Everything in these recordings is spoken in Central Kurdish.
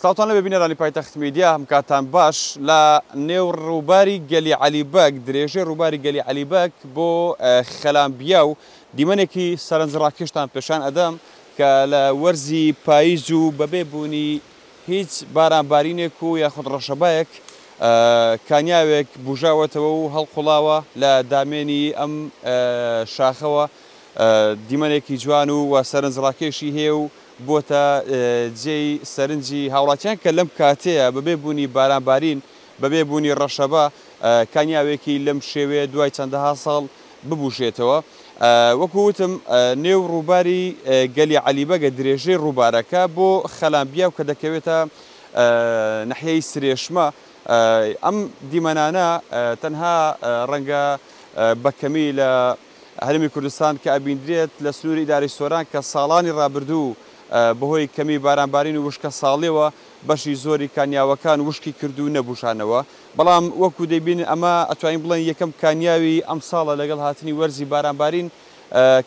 سڵاوتان لەبێ بینەرانی پایتەخت میدیا هەم کاتان باش لە نێو ڕووباری گەلی عەلی بەگ درێژەی ڕووباری گەلی عەلی بەگ بۆ خەلان بیاو دیمەنێکی سەرنج ڕاکێشتان پێشان ئەدەم کە لە وەرزی پاییز و بەبێ بوونی هیچ باران بارینێک و یاخود ڕەشەبایەک کانیاوێک بژاوەتەوە و هەڵقوڵاوە لە دامێنی ئەم شاخەوە دیمەنێکی جوان و وە سەرنج ڕاکێشی هەیە و بۆتە جێی سەرنجی هاوڵاتیان کە لەم کاتەیە بەبێ بوونی باران بارین بەبێ بوونی ڕەشەبا کانیاوێکی لەم شێوەیە دوای چەندەها ساڵ ببوژێتەوە وەکو وتم نێو ڕووباری گەلی عەلیبەگە درێژەی ڕووبارەکە بۆ خەلان بیاو کە دەکەوێتە نەحیەی سرێشمە ئەم دیمەنانە تەنها ڕەنگە بەکەمی لە هەرێمی کوردستان کە ئەبیندرێت لە سنووری ئیدارەی سۆران کە ساڵانی ڕابردوو بەهۆی کەمی بارانبارین و وشکەساڵییەوە بەشی زۆری کانیاوەکان وشکی کرد و نەبووژانەوە بەڵام وەکو دەیبینن ئەمە ئەتوانین بڵێن یەکەم کانیاوی ئەمساڵە لەگەڵ هاتنی وەرزی بارانبارین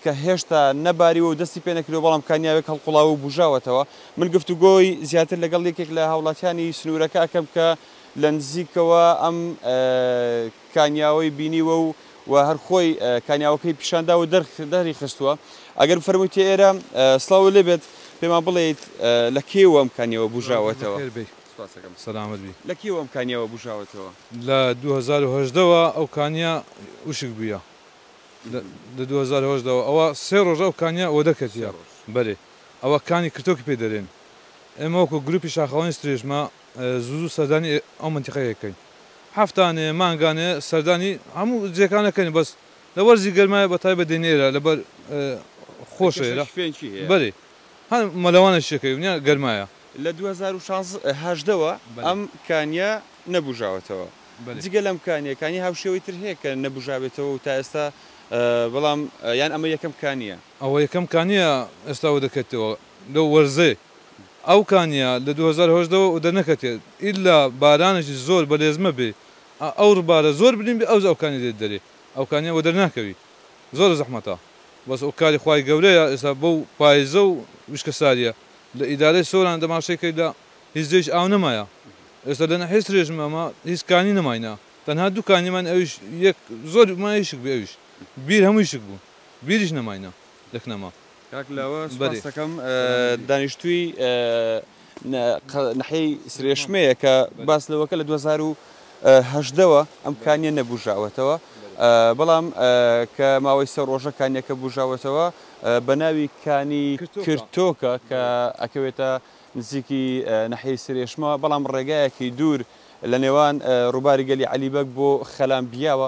کە هێشتا نەباریوە و دەستی پێ نەکردووە بەڵام کانیاوێک هەڵقوڵاوە و بوژاوەتەوە من گفتوگۆی زیاتر لەگەڵ یەکێک لە هاوڵاتیانی سنوورەکە ئەکەم کە لە نزیکەوە ئەم کانیاوەی بینیوە و و هەر خۆی کانیاوەکەی پیشان داوە دەر دەری خستووە ئەگەر بفەرموویت ئێرە سلااو لێ بێت پێمان بڵێیت لە کێوە ئەم کانیەوە بژاوەتەوە سەلامت بی لە کێوە ئەم کانیەوە بژاوەتەوە لە 2010ەوە ئەو کانیا وشک بووە لە 2010ەوە ئەوە سێ ڕۆژ ئەو کانیا ئەوە دەکەتە بەرێ ئەوە کانی کرتۆکی پێ دەرێن ئێمە وەکو گروپی شاخەوانی سرێژمە زوو زوو سەردانی ئەو مەنتیقەیە ئەکەین هەفتانێ مانگانێ سەردانی هەموو جێکان ئەکەین بەس لە وەرزی گەرمایە بە تایبەت دێین ئێرە لەبەر خۆشە ئێرە ئەوکەشەش فێن چی هەیە؟ بەرێ هەر مەلەوانێک شەکەوی نیە گەرمایە. لە دوو هەزار و شازدە هەژدە وە بەلێ. ئەم کانیە نەبوژاوەتەوە بەلێ. جگە لەم کانیە کانی هاوشێوەی تر هەیە کە نەبوژابێتەوە و تا ئێستا بەڵام یان ئەمە یەکەم کانیە؟ ئەوە یەکەم کانیە ئێستا وەدەکەتەوە لەو وەرزەی ئەو کانیە لە دوو هەزار و هەژدە وە دەرنەکەتێت ئیلا بارانێکی زۆر بەلێزمە بێ ئەو ربارە زۆر بلیم بێ ئەوجا ئەو کانیە دێت دەرێ ئەو کانیە وەدەر ناکەوی زۆر زەحمەتە بەس ئەو کاری خوای گەورەیە ئێستا بەو پایزە و وشکە ساریە لە ئیدارەی سۆران دەماشەی کەی لە هیچ جێیش ئاو نەمایە ئێستا لە ناحیەی سرێشم ئەمە هیچ کانی نەماینە تەنها دوو کانی ماین ئەویش یەک زۆر مایشک بێ ئەویش بیر هەمووی شک بوون. بیریش نەماینە لە کنەما. کاک لاوە سوپاست دەکەم. دانیشتووی ناحیەی سرێشمەیە کە باس لەوەکە لە دوو هەزار و هەژدە وە ئەم کانیە نەبوژاوەتەوە بەڵام کە ماوەی سێ ڕۆژە کانیەکە بوژاوەتەوە بە ناوی کانی کرتۆکە کە ئەکەوێتە نزیکی ناحیەی سرێشمە بەڵام ڕێگایەکی دوور لە نێوان ڕووباری گەلی عەلی بەگ بۆ خەلام بیاوە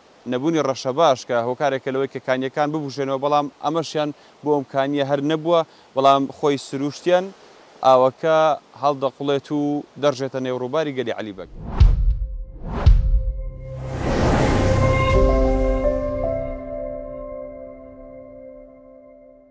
نەبوونی ڕەشەباش کە هۆکارێکە لەوەی کە کانییەکان ببوژێنەوە بەڵام ئەمەشیان بۆ ئەم کانییە هەر نەبووە بەڵام خۆی سرووشتیان ئاوەکە هەڵدەقوڵێت و دەڕژێتە نێو ڕووباری گەلی عەلی بەگ.